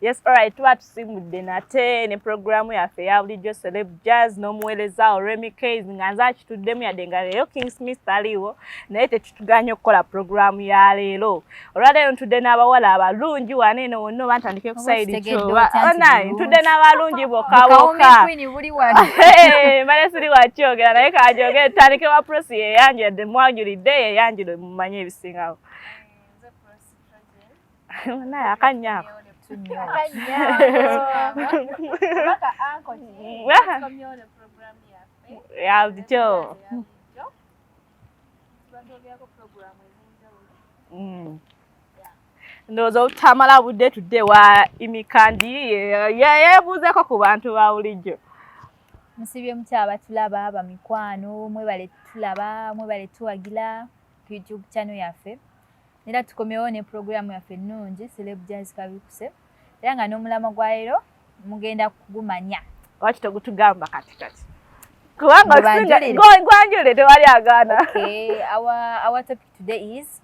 Yes, all right. Tuba tusimbudde nate ne programu yaffe ya bulijjo Celeb Jazz n'omuweereza wo Remy Kays nga nze akituddemu yadde nga leero King Smith taliiwo naye tetutuganye okukola programu ya leero. Olwaleero ntudde n'abawala abalungi wano eno wonna oba ntandike ku sayidi kyoba onayi oh, ntudde n'abalungi bokka bokka. Mbale siri wakyogera naye kaajogere tutandike wa Prossy yeyanjula yadde mwanjulidde yeyanjula mumanye ebisingawo. naye akannya ako yabulijjo ndowooza obutamala budde tudde wa imikandi yebuuzeko ku bantu ba bulijjo musibye mukyaba tulaba bamikwano mwebale tulaba mwebale tuwagila ku youtube channel yaffe era tukomewo ne pulogulaamu yaffe ennungi celeb jazz kabikuse era nga n'omulamwa gwa leero mugenda kugumanya lwaki tegutugamba kati kati kubanga gwanjulire tewali agaana our topic today is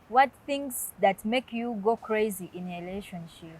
what things that make you go crazy in a relationship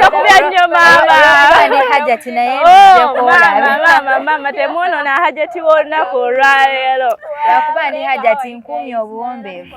Takubya nnyo maama hajati naye maama temwonoona hajati w'olunaku olwaleero lwakuba ndi hajati nkuumye obuwombeevu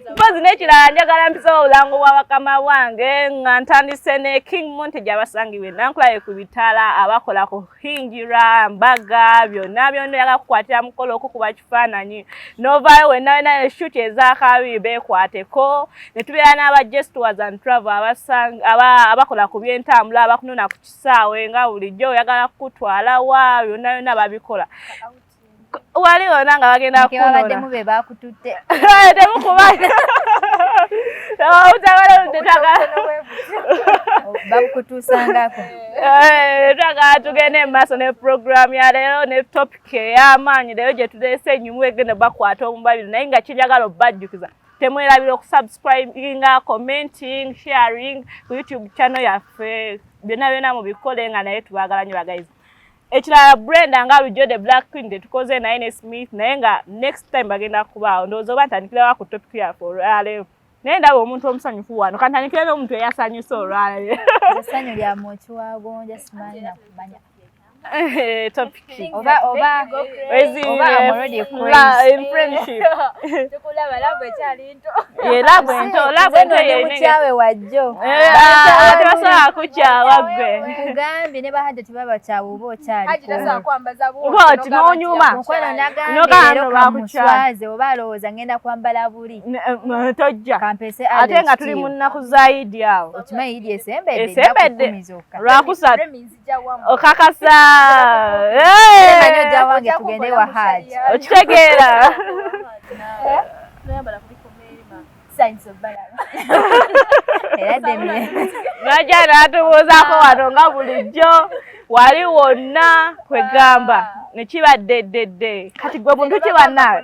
mpozi n'ekirala njagala mpisewo obulango bwa bakama bwange nga ntandise ne king monte gyabasangibwa enankulaye ku bitala abakola ku hingira mbaga byonna byonna yaga kukwatira mukolo okukuba kifaananyi novaayo wenna wena eshuti ezakabi bekwateko ne tubeera n'aba gestuars and travel abakola ku byentambula abakunona ku kisaawe nga bulijjo oyagala kukutwala wa byonna byonna babikola wali wona nga bagenda kubaddemu be bakututte temukubana bakutuusangako eh, twagala tugende mu maaso ne puroguramu ya leero ne topiki ey'amaanyi leero gye tuteesa enyumu egenda bakwata omubabiro naye nga kiryagala obajjukiza temwerabira okusubscribinga commenting sharing ku youtube channel yaffe byonna byonna mubikole nga naye tubagala nyo bagayizi ekirala brenda nga lujo the black queen tetukoze naye ne smith naye nga next time bagenda kubaawo ndowooza oba ntandikirawa ku topic yaffe olwaleero naye ndaba omuntu omusanyufu wano kantandikira n'omuntu eyasanyusa olwaleero esanyu lya mukiwago njasimanyi nakumanya eh, Eh, labu ento labu ento yemukyaawe wajjo eh, ah, tebasobola kukyawa gwe nkugambye ne bahajja tebabakyawa oba okyalikooti nonyuma mukwano nagambyeero kamuswaze oba alowooza ngenda kwambala buli eh, tojja ate nga tuli mu nnaku za idi awo okimanyi idi esembedde esembedde lwakusatu okakasa okitegeera naja natubuuzako wano nga bulijjo wali wonna kwegamba nekiba ddedde kati gwe buntu kibanna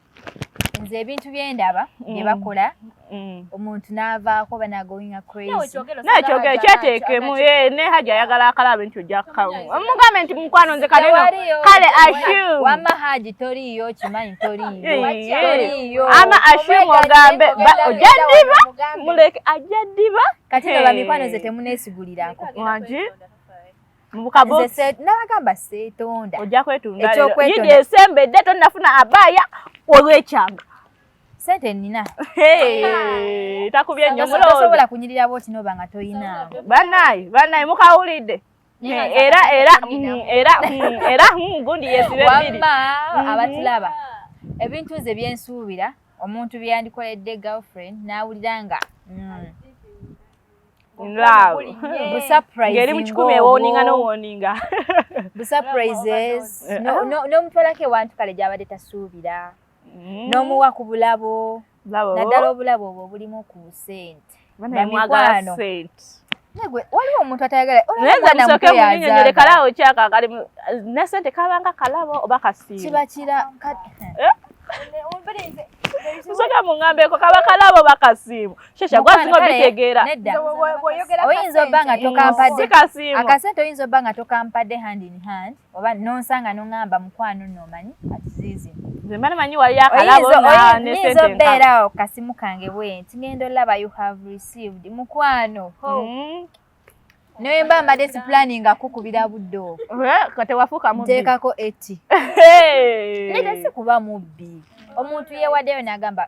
nze ebintu byendaba mm. byebakola mm. omuntu navaako banagoinga crazynakyogera kyeteekemu eh, ne hajj ayagala akala bintu jamugambe nti mukwano nze kale wama haji toriiyo kimanyi toriiyo ama ashum ogambe ojja ddiba muleke ajja ddiba kati no bamikwano nze temunesigulirako nabagamba setonda ojja kwetundaekyokwetunda esembedde tonafuna abaya olwekyanga sente nina takubye nyosobola kunyirira bwotinoba nga toyina banaye banaye mukawulidde era era mm, era mm, era mm, gundi yesibe biri abatulaba ebintu nze byensuubira omuntu byeyandikoledde girlfriend n'awulira nga ngeri mukikumi ewoninga nowoninga busaprises nomutwalako ewantu kale gyabadde tasuubira mm. nomuwa ku bulabo naddala obulabo obwo obulimu ku sente bamikwano waliwo omuntu atayagalaolekalaawo kyakakali nesente kabanga kalabo oba kasiibakira eh? nsoka mungambeko kaba kalabo bakasiimu shesha gwasinga obitegeera oyinza obba nga tokampadde akasente oyinza obba nga tokampadde hand in hand oba nonsanga noŋamba mukwano nomanyi atizizi oyinza obeera awo kasimu kange bwenti ngenda olaba you have received mukwano hmm. naye mba mbadde si planning akukubira budde obwoteekako eti naye tesi kuba mubbi omuntu yewaddeyo nagamba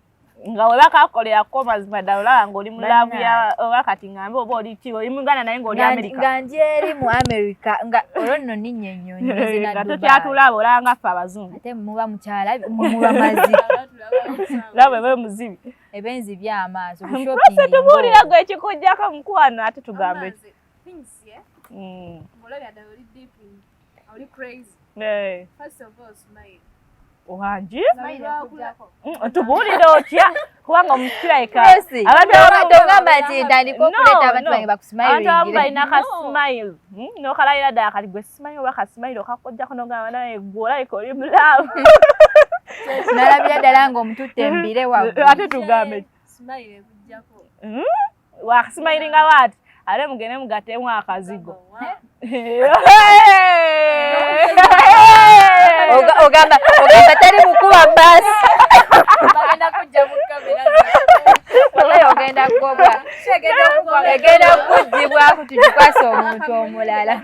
nga webakakolera ko mazima ddala olaba ngaoli mu laavu ya oba kati ngambe oba oli ki oli muganda naye ngaoli amerika nga njeeri mu amerika nga olwo nno ninnya ennyonyi nga tokyatulaaba olabanga ffe abazungu ate muba mukyala muba mazi laba ebe muzibi ebe nzibi amaaso kushoppinga tubuulira gwe ekikujjako mukwano ate tugambe eh? mm. Oli crazy. Hey. First of all, smile. Wangi? Mm, Tubuulire otya? kubanga omusirayika abantu abamu balina ka smile hmm? nokalayira ddala kati gwe smile oba ka smile okakojjako nogamba naye gwe olabika oli mulaamu nalabira ddala nga omututte embire waate tugambe wakasimayiringa waati ate mugende mugatemu akazigo ogamba teri mukuba basi egenda kukugibwa kutugikwasa omuntu omulala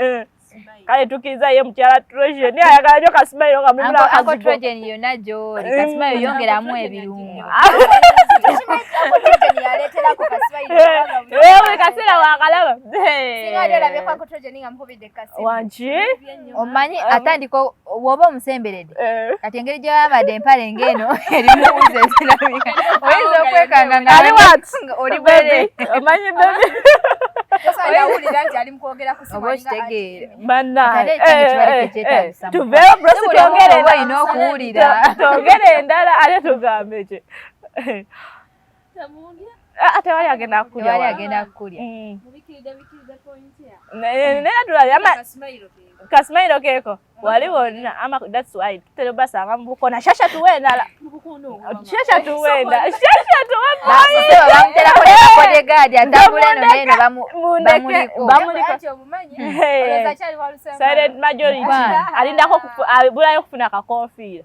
eh. kale tukiriza ye mukyala Trojan naye ayagala nyo kasimayiro nga mulimu n'akazigo Uncle Trojan yonna gy'oli mm. kasimayiro yongeramu ebirungo wewe kasera wakalaba wangi omanyi atandika woba omusemberedde eh. kati engeri gyewambadde empale ngeno erimu wuzi ezirabika oyinza okwekanga ngaoli bwere omanyi bebetuveeobrositwogerenda okuwulira twogere endala ate tugambeki Ah, tewali agenda kukulyaagenda mm. kasimairo keeko wali wonna ama that's why tutera obasanga mubukona shasha tuwe endala shasha tuwe endala shasha tuwe boyisilent majority alindako abulayo okufuna akakonfiira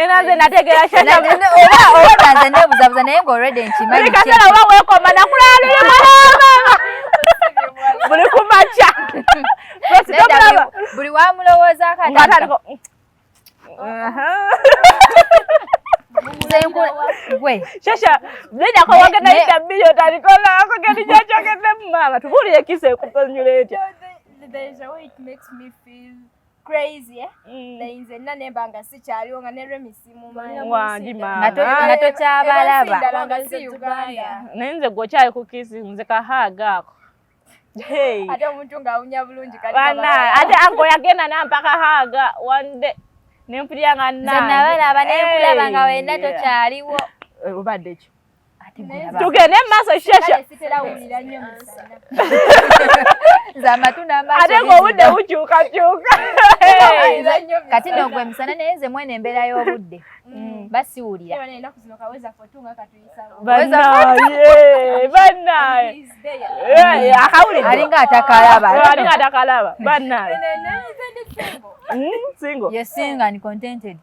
era nze nategeera oba nze nebuzabuza naye nga olredi nkimanyi kasera oba wekoma nakulala luli mwanamama buli kumakya buli wamulowoozako gwe shasha nenya ko wagenda ita bili otalikola ko gani jacho kende mama tubuli ekise kupanyule etya there is a way it makes me feel crazy eh mm. naye nze nina nemba nga sikyaliwo nga ne remisi mumanwangi mama nga tokyabalaba naye nze gwokyali ku kisi nze kahaaga ako ate omuntu ng'awunya bulungi ate anko yagenda nampaka haaga one day nempulira nga nnabalaba nenkulaba nga wena tokyaliwo obadde kyo tugende mumaaso shesha ate ngaobudde bukyukakyuka kati nogwe misana naye nze mwena embeera y'obudde mm. basiwulira alinga atakalaba banaye hmm, single yes single and contented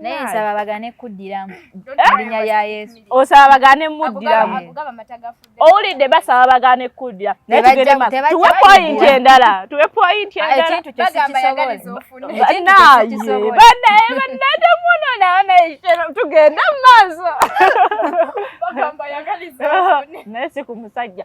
naye nsaba bagane kuddiramu linnya lya yesu osaba bagane muddiramu owulidde basaba bagane kuddira naye tugende tuwe poyinti endala tuwe poyinti endalabanayebanatemunonanatugende mu maaso naye si ku musajja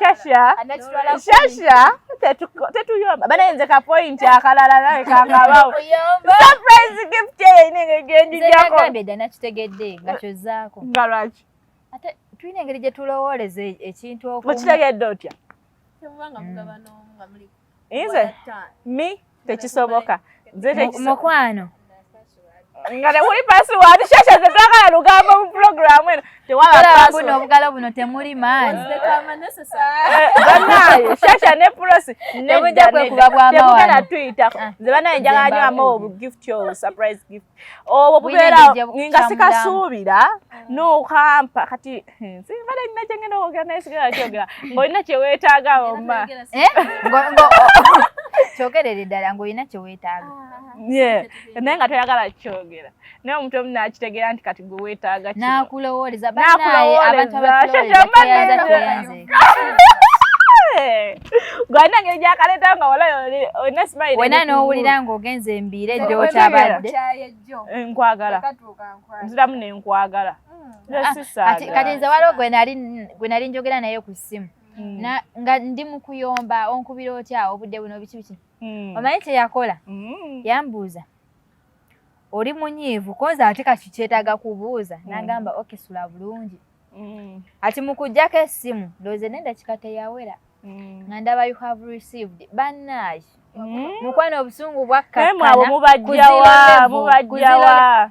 Shasha, Shasha, tetuyomba bana nze ka point akalala nawe kangabawo surprise gift yenenge genjijako nzekagambeda nakitegedde nga kyozaako nga lwaki ate tulina engeri gye tulowooleza e-, ekintu okitegedde otya nze mi tekisoboka mukwano nga temuli pasiwadi shasha ze twagala lugambo mu pulogulaamu eno tewalabuno obugalo buno temuli maani banaye shasha ne pulosi nebujja kwekuba bwamawano tuyitako nze banaye njagala nyo amawo bu gift yo surprise gift obwo bubeerawo nga sikasuubira mm. nokampa kati hmm, simbadde nina kyengenda okwogera naye sigala kyogera ng'olina kyeweetaaga omma eh? kyogerere ddala ng'olina kyeweetaaga ah. naye nga toyagala kukyogera naye omuntu omu nakitegeera nti kati gwe weetaaga kino n'akulowooleza banaye abantu abakulowooleza tweyanze gwalina ngeri gyakaleeta nga wala olina simayire wena n'owulira ng'ogenze embiire gyokyabadde nkwagala nziramu nenkwagala hmm. kati nze waliwo gwe nali njogera naye ku ssimu hmm. nga ndi mu kuyomba onkubira otya obudde buno biki biki hmm. omanyi kyeyakola yambuuza oli munyiivu kozi ate kati kyetaaga kubuuza mm. nagamba oke sula bulungi mm. ati mukujjako essimu ndooze nenda kikateyawera mm. nga ndaba you have received banaye mm. mukwano obusungu bwakkakkanamubajjawa mubajjawa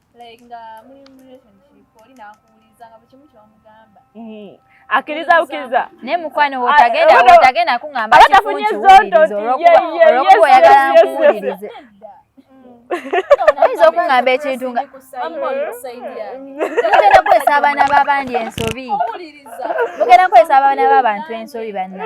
like nga muli mu relationship oli nakuwuliza nga bukimu kyomugamba mm-hmm. akiriza bukiriza naye mukwano ah, wotagenda eh, wotagenda kuŋamba abatafunye zondo olwokuba oyagala nkuwulirize oyinza okuŋamba ekintu nga mugenda kukozesa abaana b'abandi ensobi mugenda kukozesa abaana b'abantu ensobi banna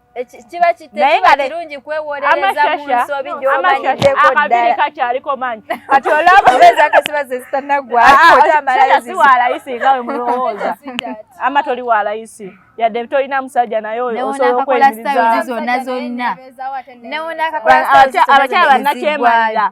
kiba kitekiba kirungi kwewolereza mu nsobi gy'omanyiddeko ddala kakyaliko manyi kati olaba obeeza kasiba ze zitanaggwa ah, ah, otamalayo si wa layisi nga we mulowooza ama toli wa layisi yadde tolina musajja naye oyo osobola okweyimiriza zonna zonna abakyala bannakyemalira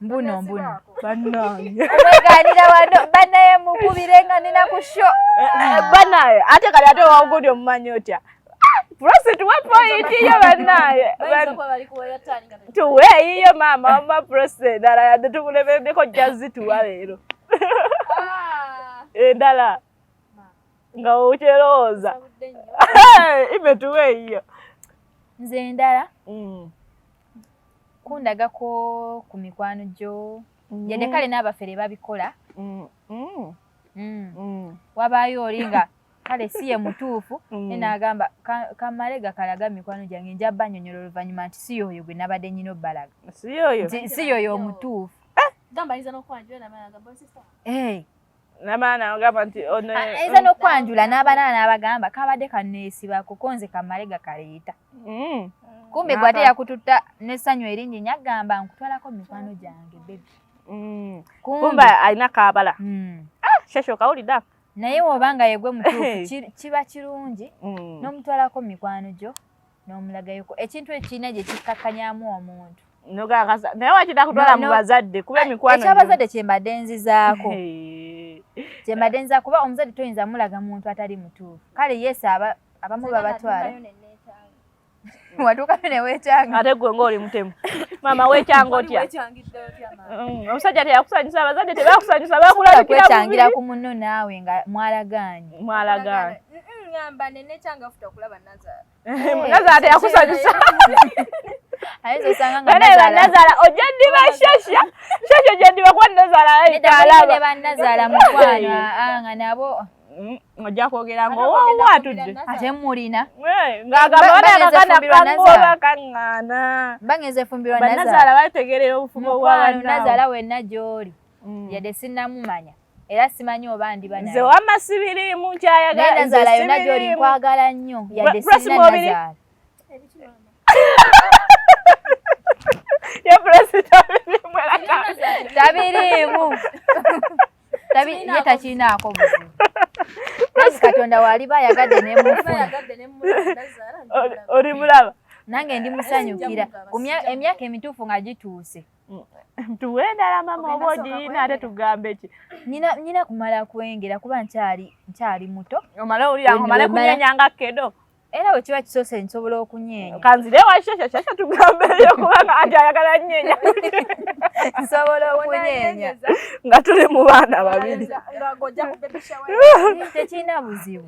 mbuno mbuno banange omweganira wano banaye mukubire nga nina ku sho eh, eh, banaye ate kali ate wawugudi omumanyi otya prosit wa point iyo banaye tuwe iyo mama wama prosit endala yadde tukulemeddeko jazzi tuwa leero ah. endala eh, nga okyerowooza ibe tuwe iyo nze endala mm. kundagako ku mikwano gyo mm. yadde kale n'abafere babikola mm, mm. wabaayo oli nga kale si ye mutuufu ne naagamba kamale gakalaga mikwano gyange nja banyonyola oluvannyuma nti si yooyo gwe nabadde nyina obbalaga si yooyo omutuufu eh! ayinza ah, nokwanjula n'abanaana abagamba kabadde kaneesiba kuko nze kamale gakaleeta mm. kumbe gwe ate yakututta n'essanyu eringi nyo agamba nkutwalako mu mikwano gyange bebi mm. kumbe alina kabala mm. ah, shesho kawulidde naye woba nga yegwe mutuufu kiba kirungi n'omutwalako mu mikwano gyo n'omulagayoko ekintu ekirina gye kikkakkanyamu omuntu naye wakita kutwala mu bazadde kuba emikwano ekyabazadde kyembadde nzizaako kyembadde nziza kuba omuzadde toyinza mulaga muntu atali mutuufu kale yes abamu babatwala watuukayo newekyanga ate gwe ngaoli mutemu maama wekyanga otya mm, omusajja teyakusanyusa abazadde tebakusanyusa bakulabikirakuwetangira ku munno naawe nga mwalagaanye mwalagaanye nazala teyakusanyusa nazala ojja ddiba shasha shasha ojja ddiba kuba nazala alabanazaala mukwano nga nabo ojja kwogera ngaowatudde ate mulina ngaagambaanakakanakangoobakaŋŋaana baŋezefumbirwa nazala bategerera obufumo bwanazala wenna gyoli mm. yadde sinnamumanya era simanyi oba ndiba naye nze wamma sibiriimu nkyayagala naye nazaala yonna gy'oli nkwagala nnyo yadde sirina nazaala tabiriimu ye takirinaako buzibu nazi katonda waliba ayagadde nemufuna oli mulaba nange ndi musanyukira emyaka emituufu nga gituuse tuwe endala mama oba ogirina ate tugambe ki nyina kumala kwengera kuba nkyali muto omale owulira omale kunyenya nga kedo era bwe kiba kisoose nsobola okunyeenya kanzire washeshashasha tugambeyo kubanga ati ayagala nyeenya nsobola okunyeenya nga tuli mu baana babiri tekirina buzibu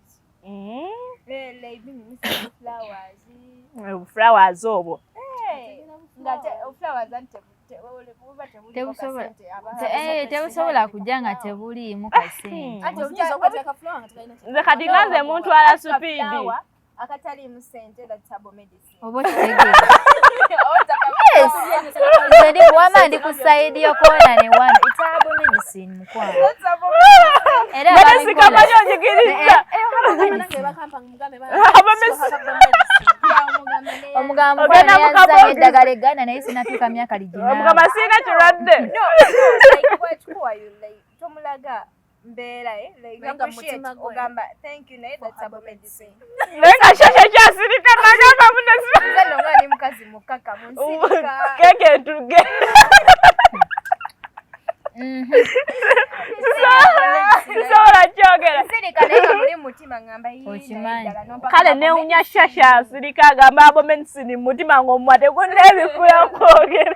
flowers obwo tebusobola kujja nga tebuliimu kasente nze kati nga nze muntwala supiidi akataliimu sente that's herbal medicine oba okitegeera wama ndi ku sayidi yokoona ne wano itaabu medicine mukwano era sikamanya ojigiriza omugambo yanzanya eddagala egganda naye sinatuuka myaka liginamugamba singa kirwadde tomulaga mbeera eh, ogamba thank you naye that's about medicine naye kashasha kyasirika nagamba munezimani mukazi mukaka munsirikakeke ntuge sisobola kyogera kale newunya shasha asirika agamba abo medicine mumutima ng'omumwa tegunneebikula kwogera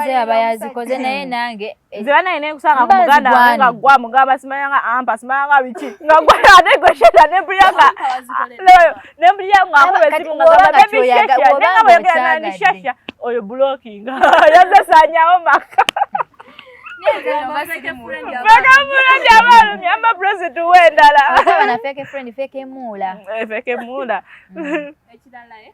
nze aba yazikoze naye nange eh, nze banaye nekusanga ku muganda wange nga gwa mugamba simanya nga ampa simanya nga biki nga gwa ate gwe sheta ne brianga ne brianga akuba esimu nga gamba baby shesha ne nga boyogera nani shesha oyo blocking yaze sanyawo maka abalumyamba president wendala feke muula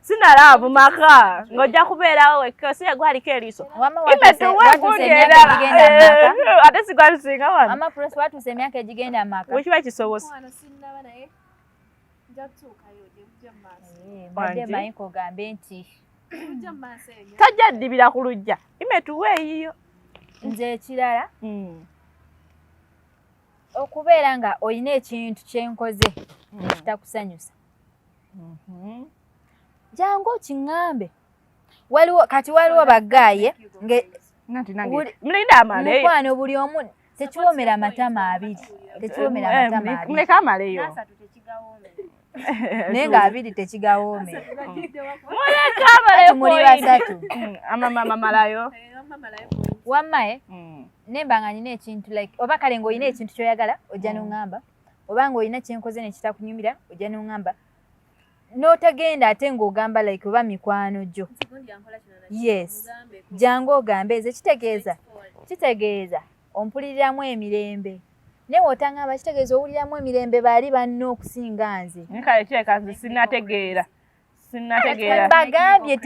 sinalaavu maka ng'ojja kubeerawo wekka si yegwaliko eriiso imetuwekugenda ate sigwalusinga wanoatuuse emyaka egigenda maka wekiba kisobose ogambe nti tajja ddibira ku lujja imetuwa eyiyo nze ekirala hmm. okubeera nga olina ekintu kyenkoze hmm. ekitakusanyusa Mhm. jangu okiŋŋambe waliwo kati waliwo bagaaye mukwano buli omu tekiwomera amatama abiri tekiwomera eh, amatama abiri amaleyo naye nga abiri tekigawome muli basatu mm, amamamalayo wammae mm. nemba nga nina ekintu like oba kale ngaolina ekintu kyoyagala ojja mm. noŋamba oba nga olina kyenkoze nekitakunyumira ojja nongamba notagenda ate ngaogamba like oba mikwano gyo yes jangu ogambe eze kitegeeza kitegeeza ompuliriramu emirembe naye wotangamba kitegeeza owuliramu emirembe baali banna okusinga nze nkale kyekanze sinategeera sinnategeera bagambye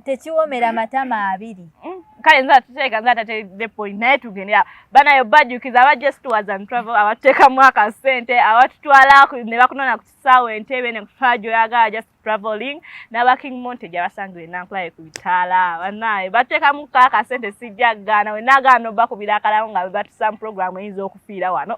tekiwomera matama abiri mm, kale nza tuteeka nza tate the point naye tugende awo banayo bajjukiza aba just tours and travel abateekamu akasente abatutwala ne bakunona ku kisaawa entebe ne kutwala gyoyagala just traveling n'aba king monte gyabasangire nankulaye ku bitaala banaye bateekamu ka akasente sijja gaana we nagaana obakubira akalamu nga bebatusamu programu eyinza okufiira wano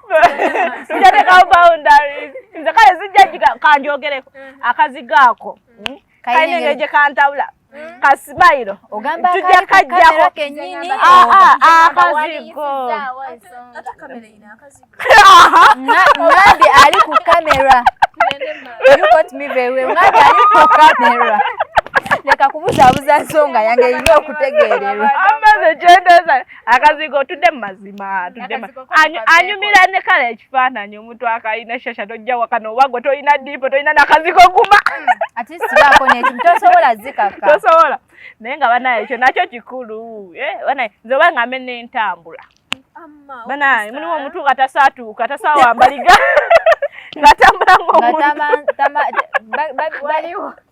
sijateekawo boundaries nze kale sijja kanjogereko mm. akazigo ako mm. kalina engeri gye kantawula mm. kasimayiro tujja kajjako akazigo ali ku kamera ali ku kamera leka kubuzaabuza nsonga yange erina okutegeererwa akazigo tudde mu mazima anyumira ne kala ekifaananyi omuntu akalina shasha tojja wakana oba gwe tolina diipo tolina nakazigo guma mm, tosobola naye nga banaye ekyo nakyo kikulu eh, banaye nze oba nga mbe nentambula banaye mulimu omuntu nga tasaatuuka tasawambaliga ngatambula ngaomuntu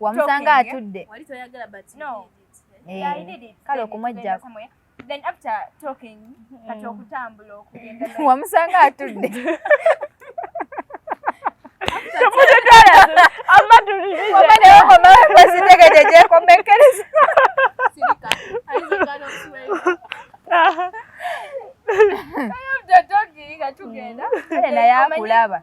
wamusanga atudde eh, kale okumwejjako then after talking mm. kati okutambula okugenda wamusanga atudde naye akulaba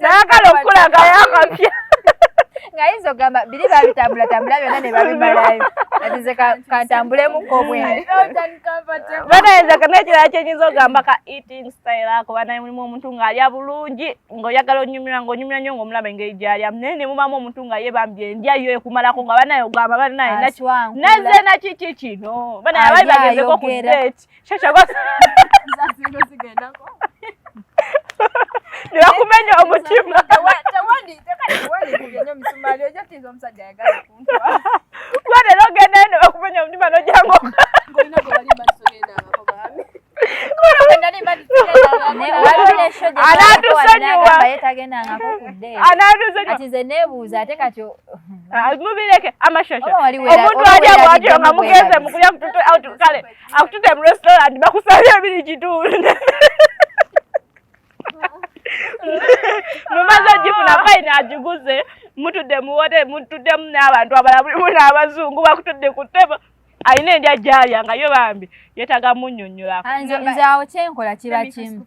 nayagala okukulagayo akapya nga yinza okugamba biri babitambula tambula byonna ne babimalayo atize kantambulemuko bwebanayenza kanekirala kyenyinza okugamba ka eating style ako banaye mulimu omuntu ng'alya bulungi ng'oyagala onyumira ng'onyumira nnyo ng'omulaba engeri gyalya naye ne mubamu omuntu nga ye bambi endya yo ekumalako nga banaye ogamba banaye naze nakiki kino banaye abali bagezeko ku date nibakumenya omutima gwe rero ogenda eno bakumenya omutima nojango anatusonyiwaanatusonyiwaanebuuza ate kati mubireke amashasha omuntu ali awagira nga mugenze mukulya mututwe kale akutude mu restaurant bakusabye ebiri kitundu mumaze ogifuna fayini agiguze mutudde muwote mutuddemu n'abantu abalala mulimu n'abazungu bakutudde ku ttebo alina endya gyalya nga yo bambi yetaga munnyonnyolako nze awo kyenkola kiba kimu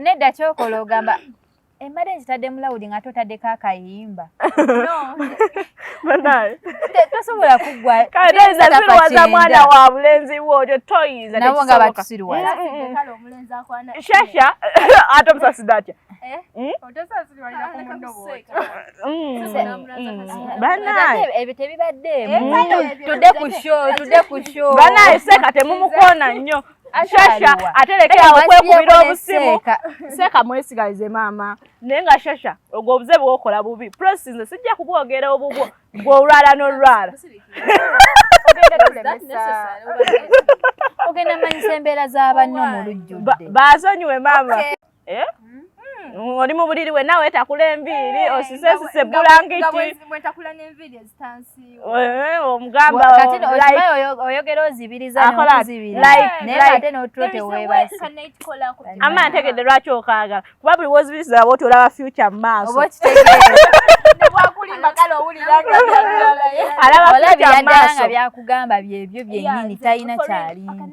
nedda kyokola ogamba emmere nkitadde mulawudi nga totaddeko akayimba tosobola kuggwawaza mwana wa bulenzi wo otyo toyinza nabo nga batusiriwashasha ate omusasida atya banaye seeka temumukoona nnyo shasha ate lekera okwekubira obusimu seeka mwesigalize maama naye nga shasha ogwo obuze bwokola bubi prosi nze sijja kubwogera obubwo bwolwala nolwala ogenda manyisa embeera za banno mu lujjudde baasonyiwe maama Eh? Mm. Mm. Oli mu buliri we nawe takula enviiri eh, osise sise bulangiti. Eh, omugamba oyogera ozibiriza ama ntegedde lwaki okaagala kuba buli wozibiriza woti olaba future mu maaso alaba byakugamba byebyo byenyini talina kyalimu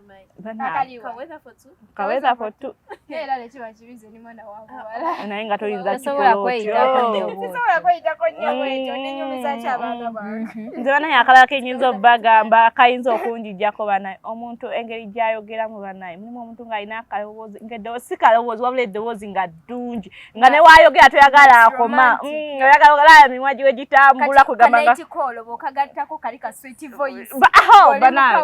naye nga toyinza nze banaye akalala kenyinza obagamba kayinza okunjijako banaye omuntu engeri gyayogeramu banaye mulimu omuntu ngaalina akalowoozi nga eddoboozi si kalowoozi wabula eddoboozi nga ddungi nga ne wayogera toyagala akoma mm, oyagala ogalaba mimwa giwe gitambula kugamba nga kikolo bokagattako kali ka sweet voice oh, bana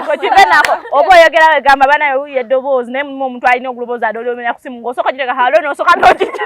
ko kibe nako obo oyogera we gamba bana yo ye doboz ne mu omuntu alina oguluboza adole omenya kusimu ngosoko jireka halo no soka no kita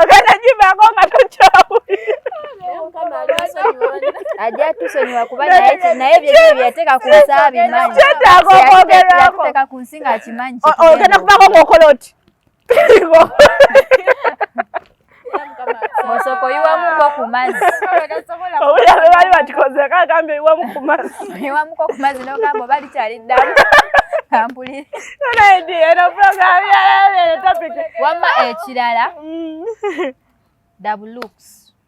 okanajibako nga tokyawulira tusonyiwa kuba naye byenyini byeyateeka ku nsi abimanyi kyetaaga okwogerwako ku nsi ng'akimanyi ogenda kubako ng'okola oti osoko iwamuko ku mazzi owulira be bali bakikoze kagamba iwamu ku mazzi iwamuko ku mazzi nogamba oba likyali ddamu kampulire nonayidi eno program yalabere topic wamma ekirala mm. dabu looks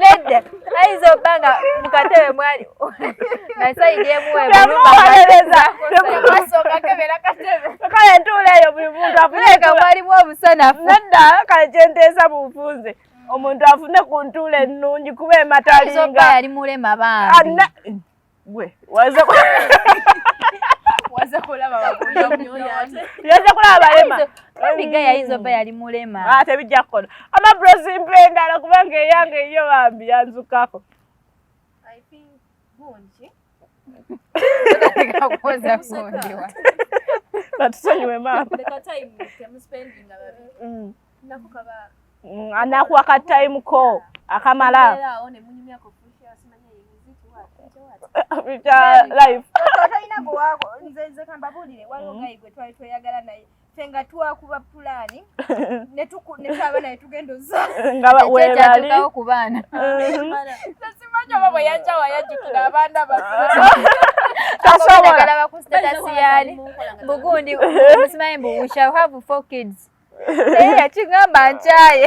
nedda ayinza obba nga mukatebe mwali nasayidi emuwekale ntuula eyo buli muntu afuneka mwalimu obusanafu nedda kale kyenteesa bunfunze omuntu afune ku ntuula ennungi kuba ematalinga yali mulema bambi gwe waza waza kulaba yaza kulaba balema obiga yayinza oba yali mulema ah, ate bijja kukola ama brosi mpendala kubanga eyange eyo bambi yanzukako batusonyiwe maama mm, anakuwa ka time ko akamala nga twakuba pulani netwaba naye tugenda ozaaao ku baana simanyi oba bwe yajja wayajjukira abaana basobola bakusitasi yaali bugundi musimanyi mbu we shall have four kids naye yakigamba nkyaye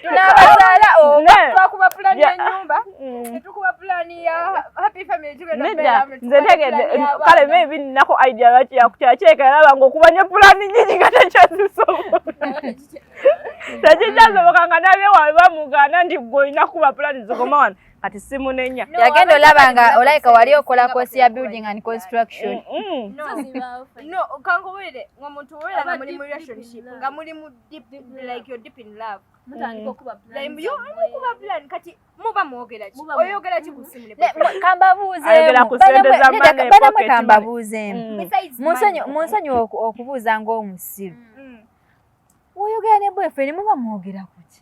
tunabazaala oba twakuba pulani yenyumba netukuba pulani ya happy family nze ntegedde kale maybe nnako idea lwaki yakukyakyeka yalaba nga okuba nyo pulani nyingi nga tekyazisobola tekikyasoboka nga nabyewawe bamugaana nti gwe olina kuba pulani zikoma wano kati simunenya no, yagenda olaba nga olayika wali okola kosi ya building and construction kankubulire nga omuntu wera nga muli mu relationship nga muli mu deep like you're deep in love munsonyiwa okubuuza ngaomusiru woyogera ne bwefere muba mwogera kuki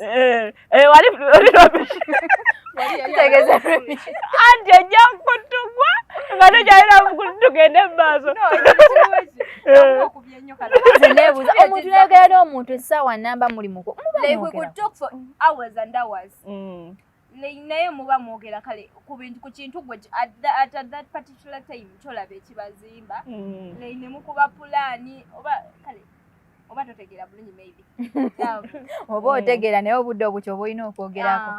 Eh, eh, wali wali rubbish tegeza rubbish anti ojja kutugwa nga tokyalina tugende mu maaso omuntu nayogera n'omuntu essaawa namba mulimuko naye muba mwogera kale ku bintu ku kintu gwe at that particular time kyolaba ekibazimba mm. naye ne mukuba pulaani oba kale oba totegeera bulungi maybe oba mm. otegeera naye obudde obwo kyoba olina okwogerako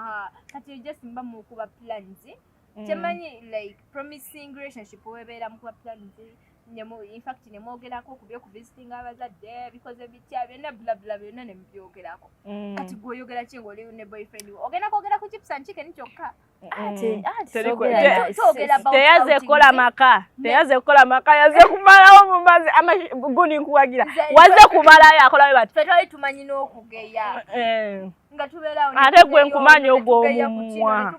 kati just mba mukuba pulaani mm. kyemanyi like promising relationship webeera mukuba pulaani infact nemwogerako ku byokuvisitinga abazadde bikoze bitya byonna bulabula byonna nemubyogerako mm. kati gweoyogera ki ngaoli ne boyfriend ogenda kwogera ku kipsankikeni kyokka teyaze kukola maka teyaze kukola maka yaze kumalawo mumazi amagundi nkuwagira waze kumalayo akolawe bati fetwali tumanyi n'okugeya eh. nga tubeerawo ate gwe nkumanyi ogwo omumwa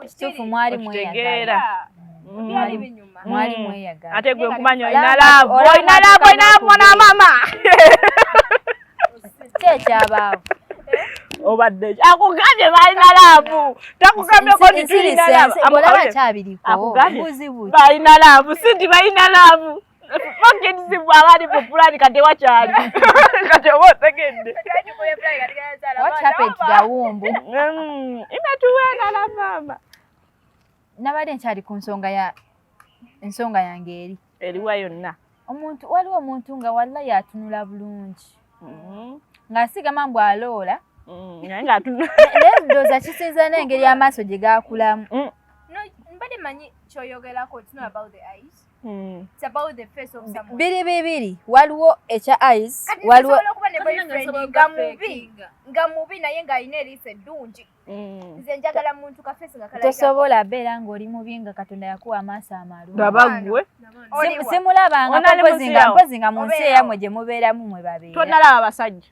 kituufu mwali mweyagala byali binyuma mwali mm. mweyagala ate gwe nkumanyi olina laavu olina laavu olina laavu mwana wa maama ki ekyabaawo obadde akugambye balina laavu takugambyeko nti tulina laavu akugambye balina laavu si nti balina laavu Fucking abali mu plan kati wakyali. Kati oba otegedde. What happened to the womb? Mm, imetuwena la mama. Nabadde nkyali ku nsonga ya ensonga yange eri. Eriwa yonna. Omuntu waliwo omuntu nga walla yatunula bulungi. Mm-hmm. Ng'asigama mbu aloola. Mm, naye ng'atunula. Naye ndowooza kisinza n'engeri amaaso gye gaakulamu. Mm. No, mbadde manyi kyoyogerako it's not about the eyes. Hmm. biri bibiri waliwo ekya ice waliwo nga mubi naye ng'alina eriiso eddungi hmm. nze njagala muntu kafesi nga tosobola abeera ng'oli mubi nga katonda yakuwa amaaso amalungabagwe simulabanga mpozi nga mu nsi eyamwe gye mubeeramu mwe babeera tonalaba basajja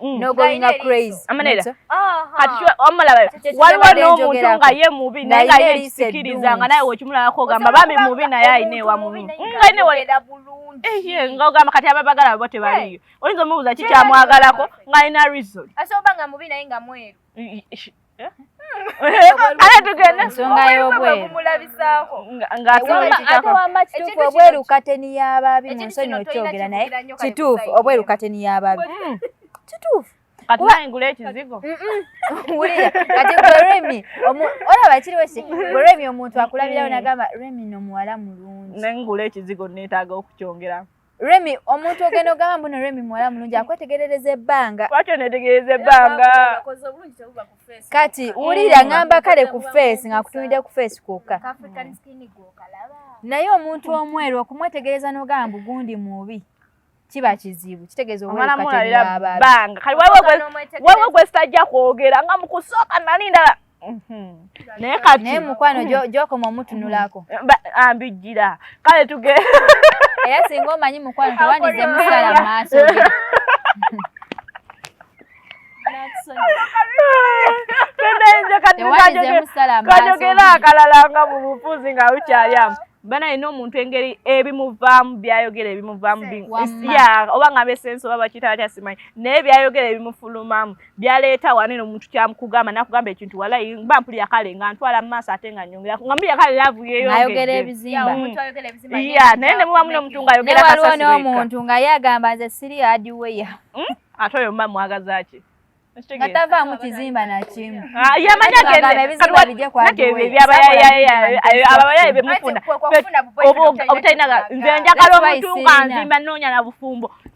Mm. no going a crazy amanera kati omulaba waliwo n'omuntu nga ye mubi naye nga ye kisikiriza nga naye wekimulabako ogamba bambi mubi naye ayina ewa mubi eh, nga ogamba kati ababagala babo tebaliyo oyinza omubuuza kikyamwagalako nga alina reason ala tugenda ensonga y'obweru kituufu obweru kateni y'abaabi mu nsonyi okyogera naye kituufu obweru kateni y'abaabi hmm. kituufu kati nayingula ekizigo wulira kati gwe remi olaba kiriwo ki gwe remi omuntu akulabirawo nagamba remi no muwala mulungi nengula ekizigo neetaaga okukyongeramu Remy omuntu ogenda ogamba mbuno Remy muwala mulungi akwetegerereza ebbanga. Kwatyo netegereza ebbanga. Kati wulira ngamba kale ku face nga kutunide ku face kwokka. Naye omuntu omweru okumwetegereza n'ogamba mbugundi mubi. kiba kizibu kitegeeza obwekategeera abantu. Kati waliwo gwesitajja kwogera nga mu kusooka nali ndala. Mhm. naye kati naye mukwano mhm. gyokoma omutunulako mhm. ambijjira kale tuge era singa omanyi mukwano tewandize musala maaso kajogera akalala nga mu bufuzi nga ukyali amu bana alina omuntu engeri ebimuvaamu byayogera ebimuvaamu oba nga besensi oba bakita batya simanyi naye byayogera ebimufulumamu byaleeta wano eno omuntu kyamukugamba nakugamba ekintu walayi mba mpulira kale nga ntwala mu maaso ate nga nyongera nga mpulira kale laavu yeyoayogera ebizimba ya naye ne muba muno omuntu ngaayogera kasasiwaliwo n'omuntu nga ye agamba nze siri adiweya hmm? ate oyo mba mwagazaki nga tavaamu kizimba nakimu ah, yamanyagendeabayaebemufunda obutalina nze njagala omuntu nga nzimba noonya na bufumbo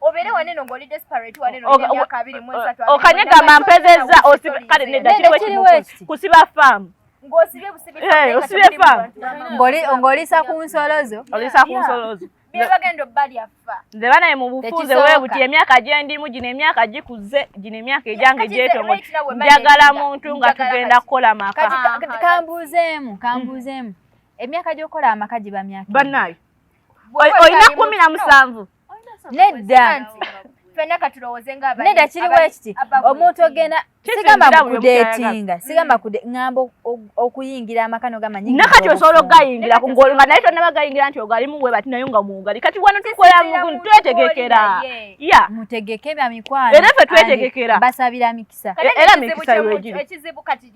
obeere waneno ng'oli desperate waneno emyaka abiri mu esatu okanyegamba mpezezza kale nedda kiriwo ekimu kusiba faamu ng'osibye busibi eh, faamu ng'olisa ku nsolo zo olisa ku nsolo zo byebagenda obbalya ffa nze banaye mu bufunze webuti emyaka gyendimu gino emyaka gikuze gino emyaka egyange gyetongo njagala muntu nga tugenda kukola maka kambuuzeemu kambuuzeemu emyaka gyokukola amaka giba myaka banaye olina kumi na musanvu nedda fena katulowoze nga abali neda kiri wekiti omuntu ogenda sigamba kudetinga sigamba kude ngambo okuyingira amakano gamanyi nakati osobola okugayingira ku ngolo nga naye tonna bagayingira nti ogali muwe bati nayo nga muwugali kati wano tukola mugun twetegekera ya mutegeke bya mikwano era fe twetegekera basabira mikisa era mikisa yojiri ekizibu kati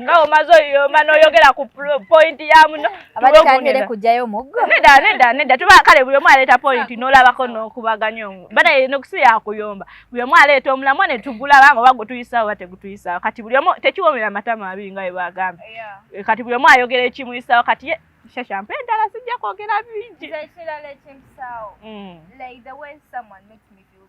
nga omaze oyoma noyogera ku point ya muno abatandere kujayo muggo neda neda neda tuba kale buli omu aleeta point nolabako nokubaganya omu bana eno kusi yakuyomba buli omu aleeta omulamwa ne tugula bango bago tuyisa oba tegutuyisa kati buli omu tekiwomera matama abi nga ebagamba eh, kati buli omu ayogera ekimuyisa kati ye shasha mpe dala sijja kwogera bingi ekirala ekimpisawo mm. like the way someone makes me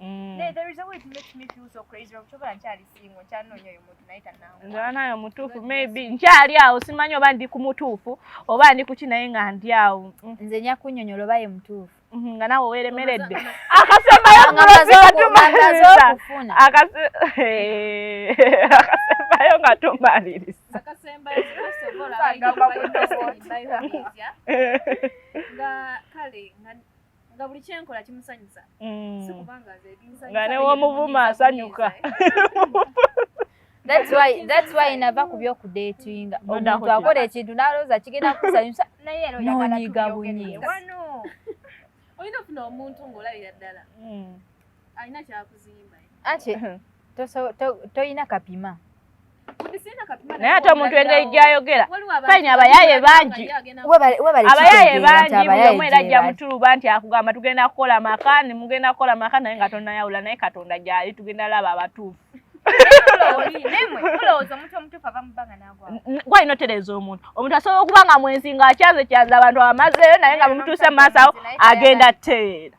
Mm. Naye there is a way it makes me feel so crazy of choba nkyali singo nkyanonya oyo muntu naye tanangu. Nzana nayo mutuufu maybe nkyali awo simanyi oba ndi ku mutuufu oba ndi kuki naye nga ndi awo. Mm. Nze nya kunyonyola oba ye mutuufu. Mm-hmm, nga nawe weeremeredde akasembayo akasembayo nga tumaliriza nga buli kyenkola kimusanyusa mm. sikubanga nze binsanyusa nga ne womuvuma asanyuka That's why that's why nava ku byo kudatinga omuntu akola ekintu n'alowooza kigenda kusanyusa naye era oyagala kubyogera wano oyina ofuna omuntu ng'olabira ddala mm. Alina kyakuzimba. Ate toyina kapima. naye ate omuntu engeri gyayogera fayini abayaye bangi abayaye bangi buli omu era ajja mutuluba nti akugamba tugenda kukola maka ni mugenda kukola maka naye nga tonayawula naye katonda gyali tugenda laba abatuufu gwali notereza omuntu omuntu asobola okuba nga mwenzi nga akyaze kyaza abantu abamazeeyo naye nga bumutuuse mu maaso awo agenda teera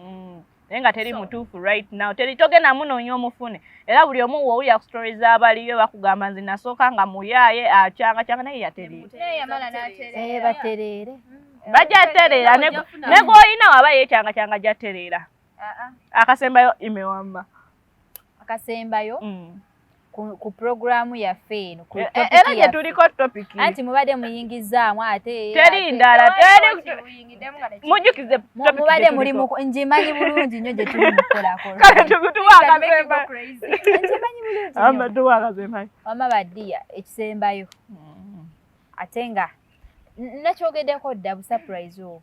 mm. naye nga teri mutuufu right now teri togenda munoonya omufune era buli omu wowulira ku story z'abaliyo bakugamba nze nasooka nga muyaaye akyanga kyanga naye yatereerabatereere mm. bajatereera negwolina waba yekyanga kyanga jatereera ah, ah. akasembayo imewamba akasembayo mm. ku puroguramu yaffe eno e, e, era gye tuliko topiki anti mubadde muyingizaamu ate teri ndala mujjukize mubadde muli ngimanyi bulungi nnyo gye tuli mukolakolawama badiya ekisembayo mm. ate nga nakyogedeko dda busapurize obwo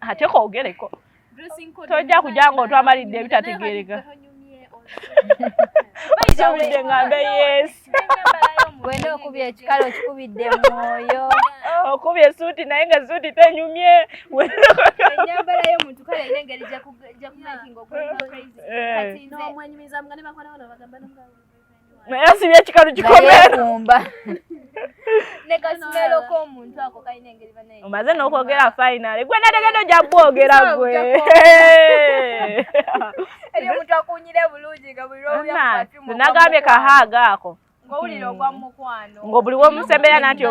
ate kogereko tojja kujja nga otwamalidde ebitategereka kikubidde nga mbe yes wena okubye ekikalo kikubidde mwoyo okubye esuuti naye nga esuuti tenyumye enyambala yomuntu kale ina engeri jakumakinga okwenyumizamu nga nebakola bona bagamba naye asibye ekikalu kikomeeumba omaze nokwogera final gwe nategede oja bwogera gwe nagambye kahaaga ako ngobuli womusembera natyo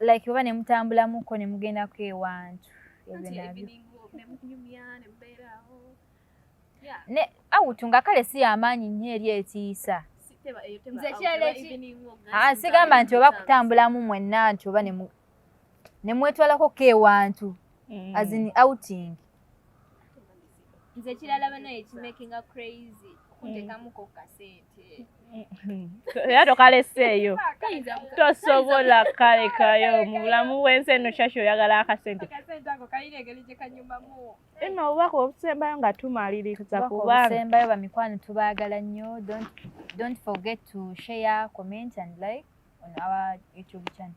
like oba ne mutambulamuko ne mugendako ewantu ebyo nabyo ne awutu nga kale si yamaanyi nnyo eri etiisa ah, sigamba nti oba kutambulamu mwenna nti oba nemwetwalako kewantu mm. as in outing nze ekirala banaye ekimakinga crazy kuntekamuko mm. kasente mm-hmm. era tokaleseeyo tosobola kalekayo mu bulamu bwensi eno shasha oyagala akasente eno obubaka obusembayo nga tumaliriza kubaobusembayo bamikwano tubaagala nnyo don't forget to share comment and like on our youtube channel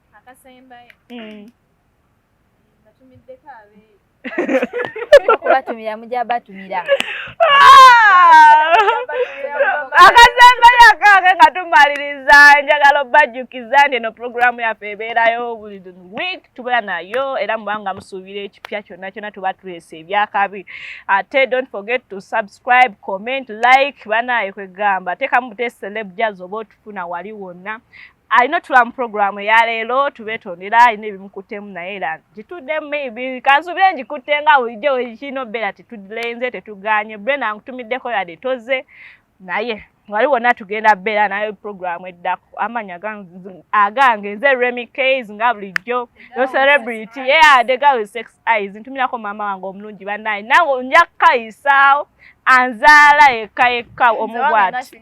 akasembayo eh. batumiddeko abeeyo kubatumira mujja batumira akasembayo akange nga tumaliriza njagala obajjukiza nti eno pulogulaamu yaffe ebeerayo buli week tubeera nayo era mubanga musuubira ekipya kyonna kyonna tuba tuleesa ebyakabi ate don't forget to subscribe comment like banaaye kwegamba teekamu bute celeb jaz oba otufuna wali wonna alina otula mu puroguramu eya leero tubetondera alina ebimukuttemu naye era gituddemu maybe kansubire ngikutte nga bulijjo wekirina obeera tetudilenze tetuganye bren ankutumiddeko yade toze naye wali wonna tugenda beera naye puroguramu eddako amanya agange nze remy cas nga bulijjo no celebrity yeyade gawe sex eyes ntumirako maama wange omulungi banaye nawe nja kukayisaawo anzaala yekka yekka omu bwati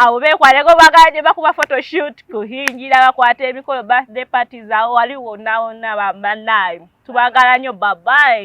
awo bekwaleko bagala gye bakuba photoshoot kuhingira bakwata emikolo birthday parties awo wali wonna wonna bambanaayi tubagala nnyo babayi